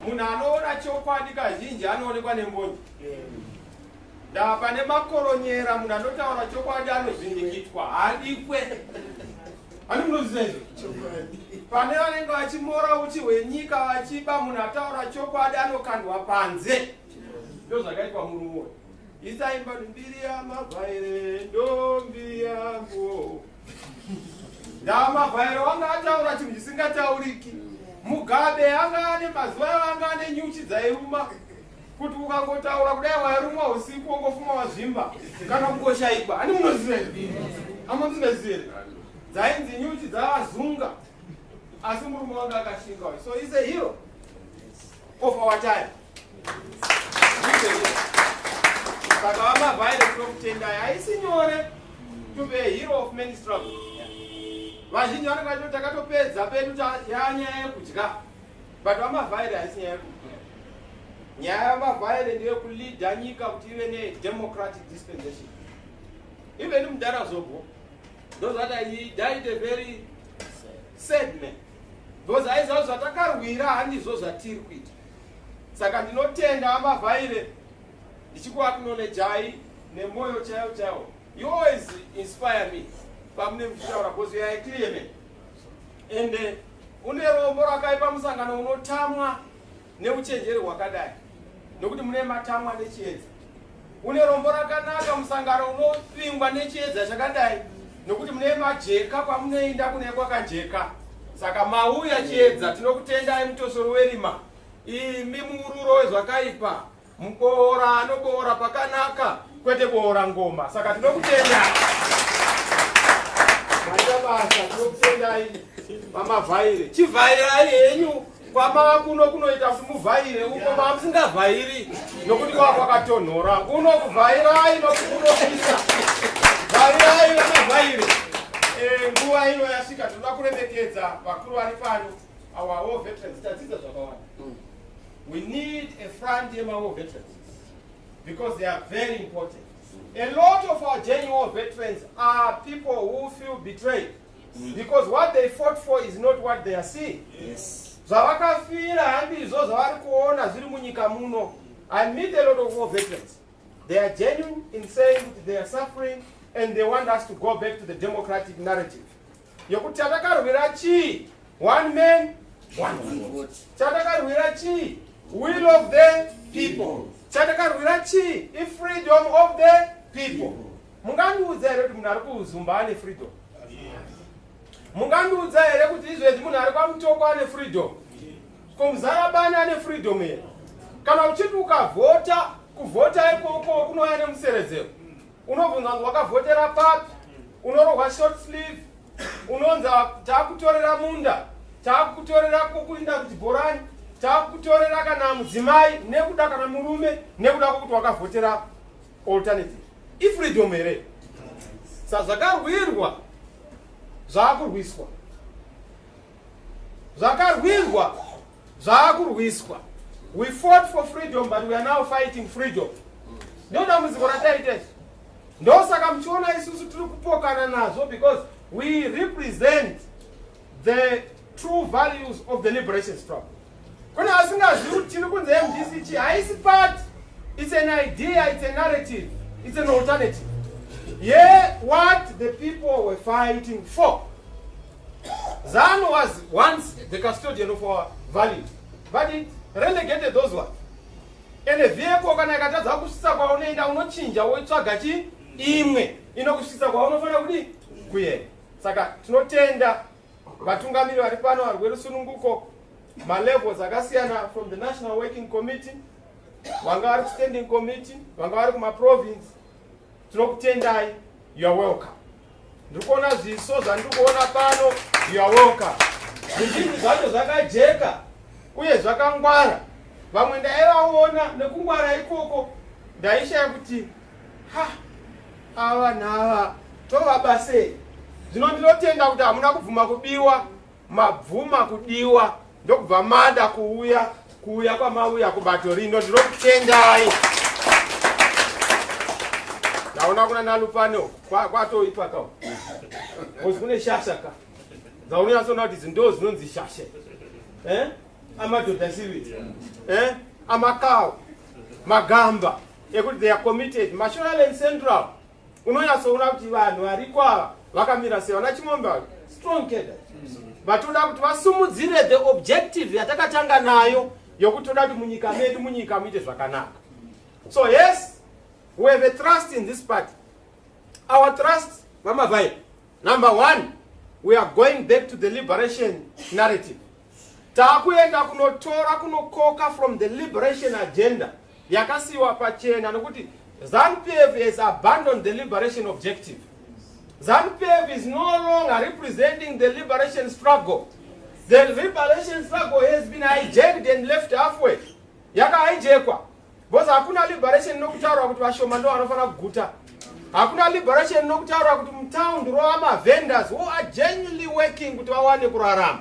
Munhu anoona chokwadi kazhinji anoonekwa nembonje. Ndaa pane makoronyera munhu anotaura chokwadi anozvindikitwa hadikwe. Ani munoziva izvo? Pane vanenge vachimora uchi hwenyika vachiba munhu ataura chokwadi anokandwa panze. Ndoo zvakaitwa murume uyu. Isaimba mbiri yamabvaire ndombi yangu. ndamavhairo wanga ataura chinhu chisingatauriki mugabe anga ane mazuva avo anga ane nyuchi dzairuma kuti ukangotaura kudai wairumwa usiku wongofuma wazvimba kana kungoshaikwa ani munozive amuzivezire dzainzi nyuchi dzavazunga asi murume wanga akashinga so is a hero of our time saka vamavhaire tinokutendai haisi nyore to be a hero of many struggle vazhinji vanenge vachito takatopedza pedu yanyaya yekudya but vamavhaire haisi nyaya yekudya nyaya yamavhaire ndeyekuleada nyika kuti ive nedemocratic dispensation even mudhara zobho ndozvati i died a very sad man because aiziva zvatakarwira handizvo zvatiri kuita Saka ndinotenda amavhaire ndichikuaknolejai nemoyo chaiwo chaiwo you always inspire me pamune muchitaura bhozi yaye clearman ende eh, une rombo rakaipa musangano unotamwa neuchenjeri hwakadai nokuti mune matamwa nechiedza Une rombo rakanaka musangano unopingwa nechiedza chakadai nokuti mune majeka kwamunoenda kune kwakajeka saka mauya chiedza tinokutendai mutosoro werima imi muururo wezvakaipa muboora anoboora pakanaka kwete boora ngoma saka tinokutenda maita basa tinokutendai mamavhaire chivhairai henyu kwamakuno kunoita simuvhaire uko mamusingavhairi nokuti kwava kwakatonhora kuno kuvhairai nokuti kunopisa vhairai vanavhaire eh, nguva ino yasvika tinoda kuremekedza vakuru vari pano our war veterans tadzidza zvakawanda mm. we need a front yemawar veterans because they are very important a lot of our genuine veterans are people who feel betrayed Mm. because what they fought for is not what they are seeing yes. zvavakafira handizvo zvavari kuona zviri munyika muno i meet a lot of war veterans they are genuine in saying kuti they are suffering and they want us to go back to the democratic narrative yokuti chatakarwira chii one man one vote chatakarwira chii will of the people chatakarwira chii ifreedom of the people, people. Mungandiudza here kuti munhu ari kuzumba ane freedom? Mungandiudza here kuti izvezvi munhu ari kwamutoko ane freedom? Ko muzarabani ane freedom here? Kana uchiti ukavhota kuvhota ikoko kunouya nemuseredzero unobvunza kuti wakavhotera papi? Unorohwa short sleeve, unonzi takutorera munda, takutorera kukuinda kuchibhorani, takutorera kana mudzimai nekuda kana murume nekuda kwokuti wakavhotera alternative ifreedom here sazvakarwirwa zvaakurwiswa zvakarwirwa zvaakurwiswa we fought for freedom but we are now fighting freedom ndo dambudziko rataita izvi ndosaka muchiona isusu tiri kupokana nazvo because we represent the true values of the liberation struggle kune asingazivi kuti tiri kunzi mdc haisi party it's an idea it's a narrative it's an alternative yeah what the people were fighting for zanu was once the custodian of our valley but it relegated those ones ende vhiyeko kana ikatadza kusvitsa kwaunoenda unochinja woitsvaga chi imwe inokusvitsa kwaunofanira kudi kuenda saka tinotenda Vatungamiri vari pano vari rwerusununguko malevels akasiyana from the national working committee vanga vari kustanding committee vanga vari kumaprovince tinokutendai you are welcome ndiri kuona zviso zvandiri kuona pano you are welcome zvizhinji zvacho zvakajeka uye zvakangwara vamwe ndaivaona nekungwara ikoko ndaishaya kuti Ha, ava vanhu ava tovabasei zvino ndinotenda kuti hamuna kubvuma kubiwa mabvuma kudiwa ndokubva mada kuuya kuuya kwamauya kubato rino ndinokutendai ndaona kuna nalupane kwatoipa ka kozi kune shasha ka dzaunonyatsona kuti idzi ndo zinonzi shasha eh? amadhodha sivii eh? amakawo magamba ekuti they are committed mashoreland central unonyatsoona kuti vanhu variko ava vakamira sei vana chimombe ava strong keda vatoda kuti vasumudzire the objective yatakatanga nayo yokuti toda kuti munyika medu munyika muite zvakanaka so yes we have a trust in this party our trust vamavai number one we are going back to the liberation narrative Takuenda kunotora kunokoka from the liberation agenda yakasiiwa pachena nokuti ZanuPF has abandoned the liberation objective. ZanuPF is no longer representing the liberation struggle. The liberation struggle has been hijacked and left halfway. Yaka hijackwa. Because hakuna liberation inokutaura kuti vashoma ndo vanofanira kuguta. Hakuna liberation inokutaura kuti mutown ndirova mavendors who are genuinely working kuti vawane kurarama.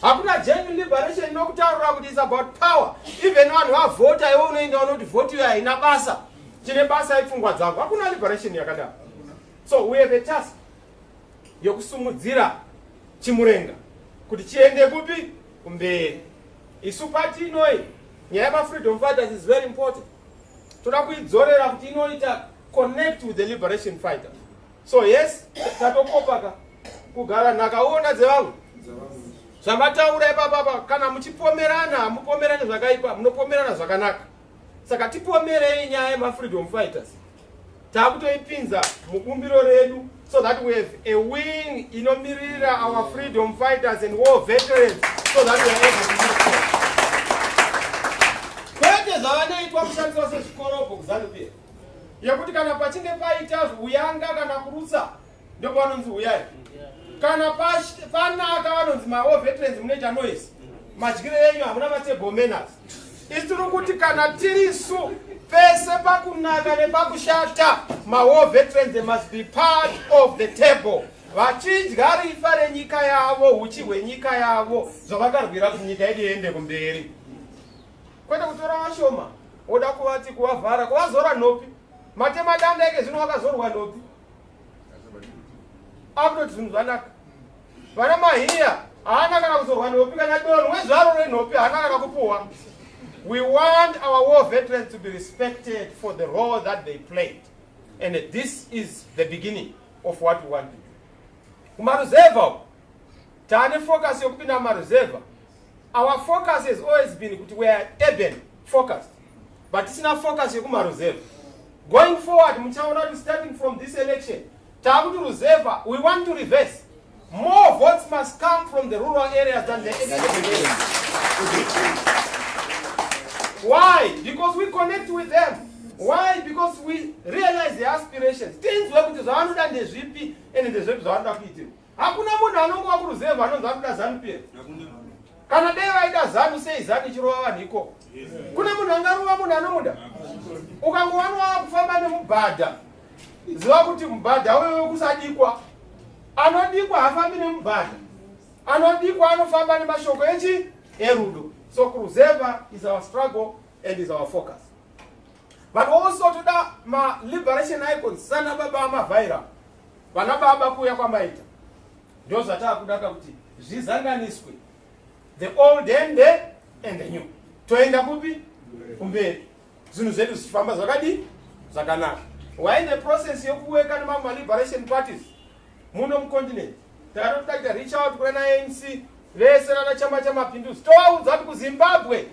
Hakuna genuine liberation inokutaura kuti it's about power. Even vanhu vavhota iwe unoenda unoti vote iyo haina basa. Chine basa ipfungwa dzako. Hakuna liberation yakadaro. So we have a task yokusumudzira chimurenga kuti chiende kupi kumberi. Isu pati inoi nyaya yema freedom fighters is very important toda kuidzorera kuti inoita connect with the liberation fighter so yes tatokopaka kugara nhaka uona dzevamwe zvamataura ipapapa kana muchipomerana hamupomerani zvakaipa munopomerana zvakanaka saka tipomerei nyaya yema freedom fighters takutoipinza mubumbiro redu so that we have a wing inomirira our freedom fighters and war veterans so that we are able to move forward kwete zvavanoitwa kushandiswa sezvikorobho kuzanupia yekuti kana pachinge paita uyanga kana kurutsa ndopavanonzi huyai kana panaka vanonzi mawo veterans munoita noise madyire yenyu hamuna matable manners isi tiri kuti kana tirisu pese pakunaka nepakushata mawo veterans must be part of the table vachidya rifa renyika yavo uchi hwenyika yavo zvavakarwira kuti nyika yedu iende kumberi kwete kutora vashoma woda kuvati kuvavhara kuvazora nhopi matemadanda eke zvino wakazorwa nhopi akutoti zvinhu zvanaka vana mahiya haana kana kuzorwa nhopi kana dono wezvaro renhopi haana kana kupuhwa we want our war veterans to be respected for the role that they played and this is the beginning of what we want to do kumaruzevha tane focus yokupinda mumaruzevha our focus has always been kuti we are urban focused but tisina focus yekumaruzevha going forward muchaona kuti starting from this election taakuti ruzevha we want to reverse more votes must come from the rural areas than the why because we connect with them why because we realize the aspirations tinzwe kuti zvavanoda ndezvipi ende ndezvepi zvavanoda kuitirwa Hakuna munhu anongova kuruzevha anonzi ari kuda zanu pia. Kana dai vaida zanu sei zanu ichirova vanhu ikoko. Kune munhu angarova munhu anomuda. Ukangova nova kufamba nemubhadha. Ziva kuti mubhadha wewe kusadikwa. Anodikwa hafambi nemubhadha. Anodikwa anofamba nemashoko echi erudo. So kuruzevha is our struggle and is our focus. But also toda ma liberation icons sana baba amavhaira. Vana baba kuuya kwamaita ndozvatakudaka kuti zvizanganiswe the old and the, and the new toenda kupi kumberi zvinhu zvedu zvichifamba zvakadii zvakanaka why the process yekuweka nemamwe liberation parties muno mucontinent takatotaita reach out kuna anc vese vana chama chamapinduzi tovaudza kuti kuzimbabwe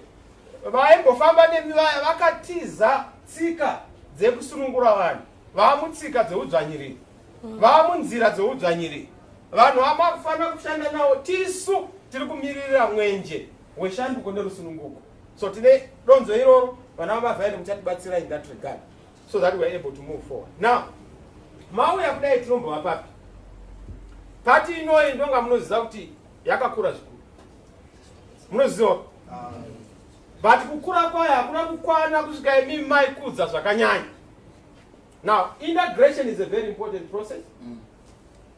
vaimbofamba nemi vaya vakatiza tsika dzekusunungura vanhu vaamutsika dzeudzvanyiriri mm. vaamunzira dzeudzvanyiriri vanhu vamakufanira kushanda nawo tisu tiri kumiririra mwenje weshanduko nerusununguko so tine donzo iroro vana vamavhairi muchatibatsira in that regard so that weare able to move forward now mauya kudai tinombova papi pati inoyi ndonga munoziva kuti yakakura zvikuru munoziva ah. but kukura kwayo hakuna kukwana kusvika imi maikudza zvakanyanya now integration is a very important process mm.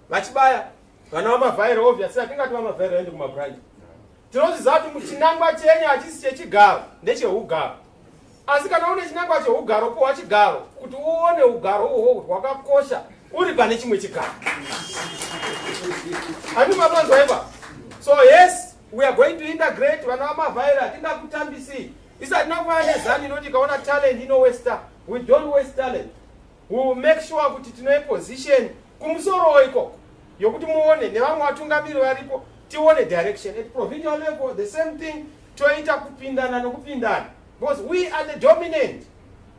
vachibaya vana vamavhaira obvious atingati vamavhaira vaende kumabranch tinoziziva kuti muchinangwa chenyu hachisi chechigaro ndecheugaro asi kana une chinangwa cheugaro powa chigaro kuti uone ugaro uhwo kuti hwakakosha uri pane chimwe chigaro ani mapanzwa ipa so yes We are going to integrate vana vamavhaira tingakutambisii isi hatina kuvana nezanu inoti ikaona talent inowester we don't waste talent we will make sure kuti tine position kumusorowo ikoko yokuti muone nevamwe vatungamiri varipo tione direction at provincial level the same thing toita kupindana nokupindana because we are the dominant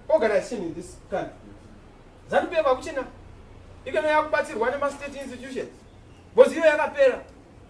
organization in this country zanu pf akuchina ikeno yakubatsirwa nemastate institutions because iyo yakapera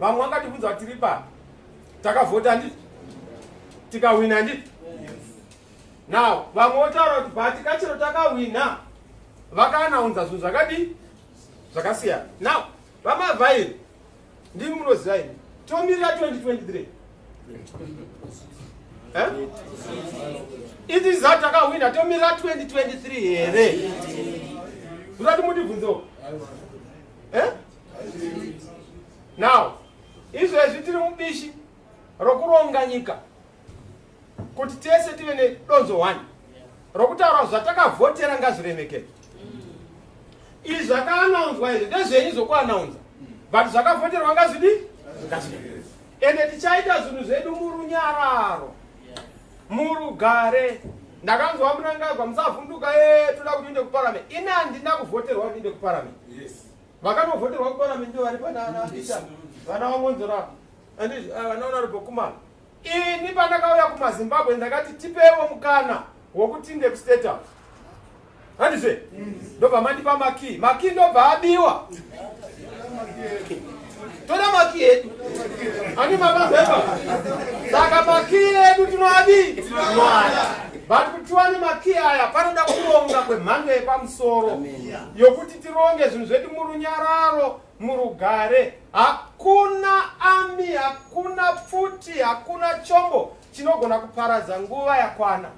vamwe vangatibvunza kuti tiri papi takavhota ndi tikahwina ndi now vamwe votaura kuti bati kachero takahwina vakanaunza zvinhu zvakadii zvakasiyana now vamavhairi ndimi munoziva ini tomirira 2023 eh? iti zaa takahwina tomirira 2023 here zvirati mundibvunzewo eh? now izvezvi tiri mubishi rokuronga nyika kuti tese tive nedonzo one rokutaura zvatakavhotera ngazviremekei izvi zvakaanaunzwa izvi ndezvenyu zvokuanaunza but zvakavhoterwa ngazvidi ende tichaita zvinhu zvedu murunyararo murugare ndakanzwa munangagwa musavhunduka ye toda kuti uinde kuparament ini handina kuvhoterwa kuti inde kuparament yes. Vakanovhoterwa kuparliament ndivari panana Peter vana vamonzora and uh, vana honorable Kumana. Ini pandakauya kumaZimbabwe ndakati tipewo mukana wokuti ndekustate house handizve ndobva mandipa makii makii ndobva abiwa toda makii edu ani mabazeva saka makii edu tinoadi but kuti tiwane makii aya panoda kuronga kwemhando yepamusoro yokuti tironge zvinhu zvedu murunyararo murugare hakuna ami hakuna pfuti hakuna chombo chinogona kuparadza nguva yakwana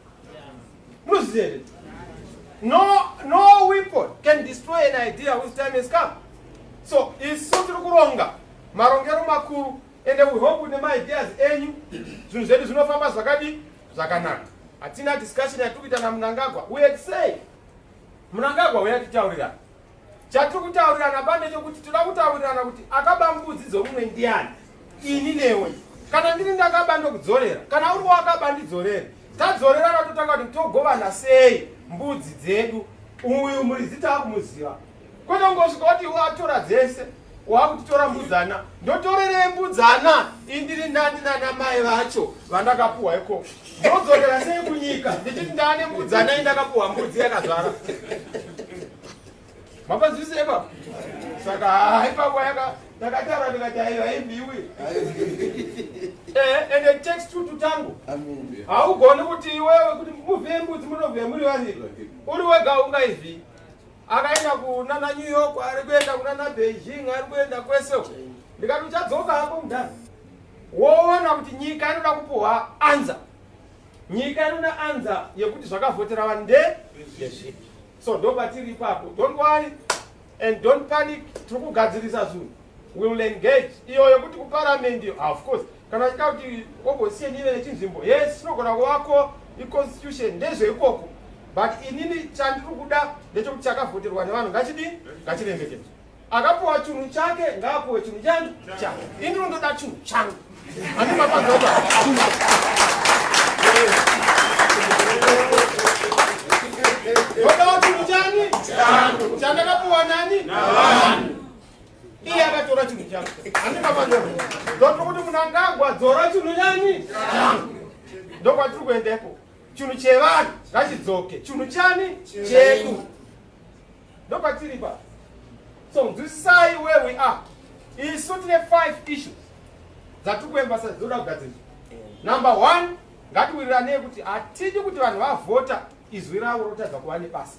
munozviziva here no, no weapon can destroy an idea whose time has come so isu tiri kuronga marongero makuru ende we hope kuti nemaideas enyu zvinhu zvedu zvinofamba zvakadii zvakanaka hatina discussion yatiri kuita namunangagwa we had say Munangagwa huya titaurirana. Chatiri kutaurirana bande chokuti toda kutaurirana kuti akaba mbudzi dzomumwe ndiani ini newe. Kana ndiri ndakaba ndokudzorera kana uri wakaba ndidzorere. Tadzorerana totanga kuti togovana sei mbudzi dzedu. Uyu muridzi takumuziva. Kwete ungosvika kuti watora dzese. wakutora mbudzana ndotorerei mbudzana indiri ndani nana mai vacho vandakapuwa iko ndodzokera sei kunyika ndichiti ndane mbudzana indakapuwa mbudzi yakazvara mapanzwise ipa saka haipapo yaka ndakatara ndikati aiva haimbiwi eh, ende text tutu tangu haugoni kuti iwewe kuti muvhembudzi munovhe muri vaviri uri wega ungaivhii akaenda kunana new york ari kuenda kunana beijing ari kuenda kwese ndikati uchadzoka hako mudhara woona kuti nyika inoda kupuhwa anza nyika inoda anza yekuti zvakavhotera vanhu nde so ndopatiri ipapo don't worry and don't panic tiri kugadzirisa zvinhu will engage iyo yokuti kuparliament ah, of course kana achida kuti opposition ive nechinzvimbo yes inogona kuvako iconstitution ndezveikoko but inini chandiri kuda ndechokuti chakavhoterwa nevanhu ngachidii ngachiremekedzwa akapuwa chunhu chake ngaapuwe chunhu chani chake indiro ndoda chunhu changu andimapazoa ndodawo chunhu chani chandakapuwa nani iye akatora chinhu changu handina manyoa ndotiri kuti munangagwa dzora chinhu nyani ndokwatiri kuendepo chinhu chevanhu ngachidzoke chinhu chani chedu ndokwatiri pa so nzwisisai where we are isu tine five issues dzatiri kuembasa dzoda kugadzirisa number one ngatiwiriranei kuti hatidi kuti vanhu vavhota izwi ravo rotadza kuva nebasa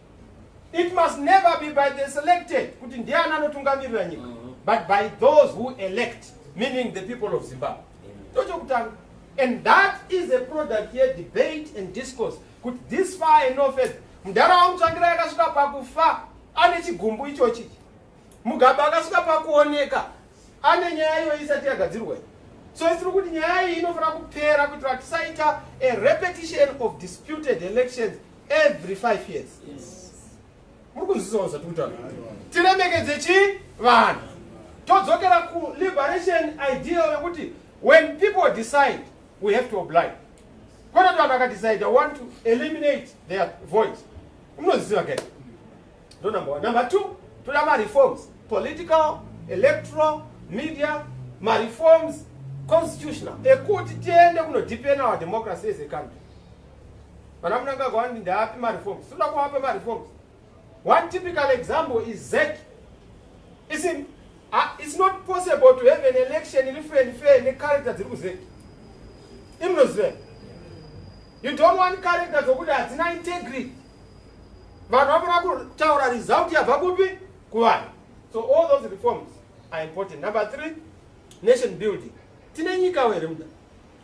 It must never be by the selected kuti ndiani anotungamirira nyika mm-hmm. but by those who elect meaning the people of Zimbabwe. Tochokutanga. And that is a product here debate and discourse kuti this far and no further. Mdara wangu tsvangira yakasvika pakufa ane chigumbu ichochi. Mugabe akasvika pakuoneka ane nyaya iyo isati yagadzirwa iyi. So isiri kuti nyaya iyi inofanira kupera kuitira tisaita a repetition of disputed elections every five years muri kunzwisawo zvatikutaura tiremekedze chi vanhu todzokera kuliberation ideal yekuti when people decide we have to oblige kwete kuti vanhu vakadecide i want to eliminate their voice unoziva ke ndo number one number two toda mareforms political electoral media mareforms constitutional ekuti tiende kunodepena our democracy as a country Vana Mnangagwa vanoti ndaapi mareforms? Tinoda kuvapa mareforms. One typical example is ZEC. It's, in, uh, it's not possible to have an election in free and fair necharacter dziri kuZEC. Imnoziva. You don't want character dzokuti hadzina integrity. Vanhu vanoda kutaura result yabva kupi? Kuvanhu. So all those reforms are important. Number three, nation building. Tine nyika here muda?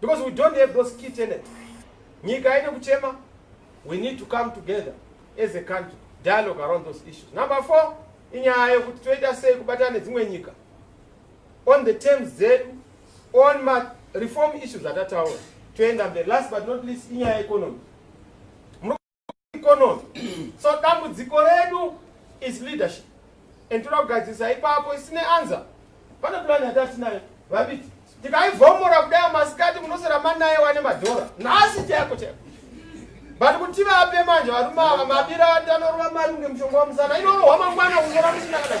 because we don't have those key tenants nyika haine kuchema we need to come together as a country dialogue around those issues number four inyaya yekuti toita sei kubatana nedzimwe nyika on the terms dzedu on ma reform issues atataura toenda mberi last but not least inyaya yeconomy economy so dambudziko redu is leadership and toda kugadzirisa ipapo isine anza pane plan yatatinayo vabiti tikaivhomora kudai masikati munosera manaye wane madhora nhasi chaiko chaiko but kuti vape manje varume ava mabira ati anorova mari kunge mushonga wamusana inorohwa mangwana kungora musina kadai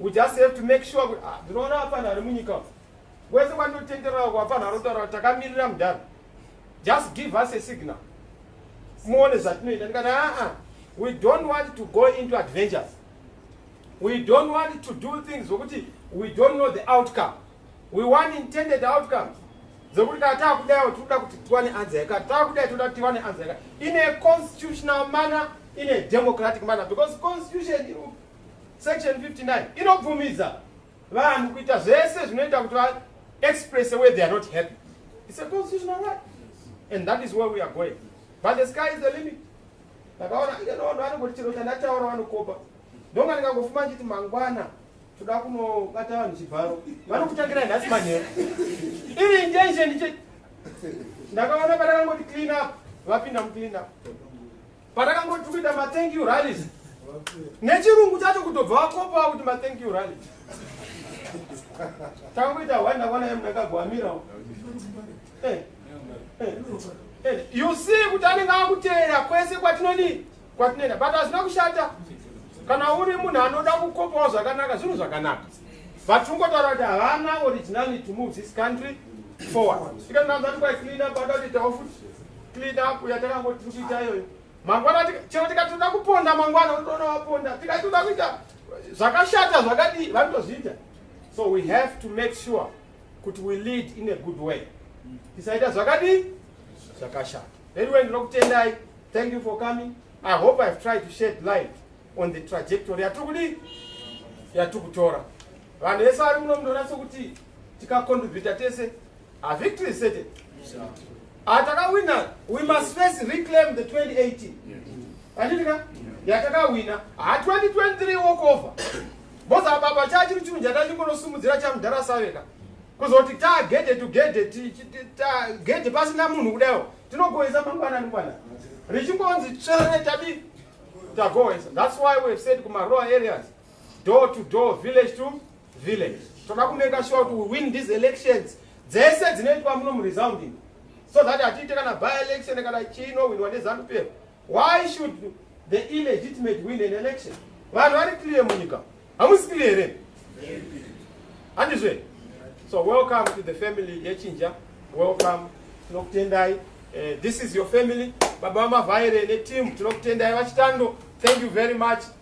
We just have to make sure kuti ah, ndinoona hapana ari munyika umu. Wese kwandinotenderera kwapana anotaura kuti takamirira mudhara. Just give us a signal. Muone zvatinoita ndikati aa we don't want to go into adventures. We don't want to do things zvokuti we don't know the outcome. We want intended outcomes. Zvokuti kana takudayo tinoda kuti tiwane anza yakati takudayo tinoda kuti tiwane anza yakati in a constitutional manner in a democratic manner because constitution Section 59 inobvumidza vanhu kuita zvese zvinoita kuti va express where they are not happy. It's a constitutional right. And that is where we are going. But the sky is the limit. Ndakaona ino vanhu vanongoti chero chandataura vanokopa. Ndonga ndikangofuma nditi mangwana toda kunobata vanhu chibharo. Vanokutangira nhasi manheru. Iri intention ndiche ndakaona padakangoti clean up vapinda muclean up. Patakangoti kuita ma thank you rallies. Nechirungu chacho kutobva wakopa kuti ma thank you rally. Takuita wanda kwana yemu ndakagwamira. Eh. Eh. eh. You see kuti anenge akuteera kwese kwatinoni kwatinoenda but hazvina kushata kana uri munhu anoda kukopawo zvakanaka zvinhu zvakanaka but ungotaura kuti havana originality move this country forward ikananzati kwaiclean up adakuitawo futi clean up yatakangoti tichiita iyoyo mangwana chero tikati toda kuponda mangwana unotoona waponda tikati toda kuita zvakashata zvakadii vanotozviita so we have to make sure kuti we lead in a good way tisaita zvakadii zvakashata anyway ndinokutendai thank you for coming i hope ihave tried to shed light on the trajectory yatiri kudii yatiri kutora vanhu vese vari muno munonatso kuti tikacontribita tese A victory is certain. Atakawina, ah, we must first reclaim the 2018. Anditika? Yatakawina. Ha 2023 walk over. Boza baba chachi chinhu chatachingorosimudzira chamudhara saveka. Kuzoti ta gede to gede ta gede pasina munhu kudayo. Tinogoisa mangwana mangwana. Richingonzi tsvere tabi tagoisa. That's why we have said kuma rural areas. door to door village to village toda kumeka sure kuti we win these elections dzese dzinoitwa muno muresounding so that hatiite kana by election kana chino winwa nezanup why should the illegitimate win an election vanhu vari clear munyika hamusi clear here handizve so welcome to the family yechinja welcome tinokutendai uh, this is your family baba vamavhaire neteam tinokutendai vachitando thank you very much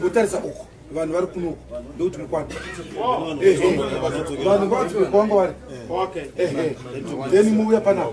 mutarisa uku vanhu vari kunoku ndokuti mukwata vanhu vakuanga vari then muuya panaaaiwa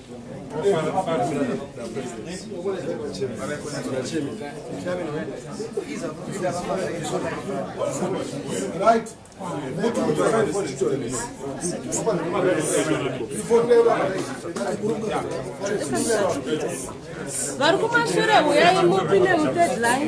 Right. vari kumashure huyai mupi nemudeadline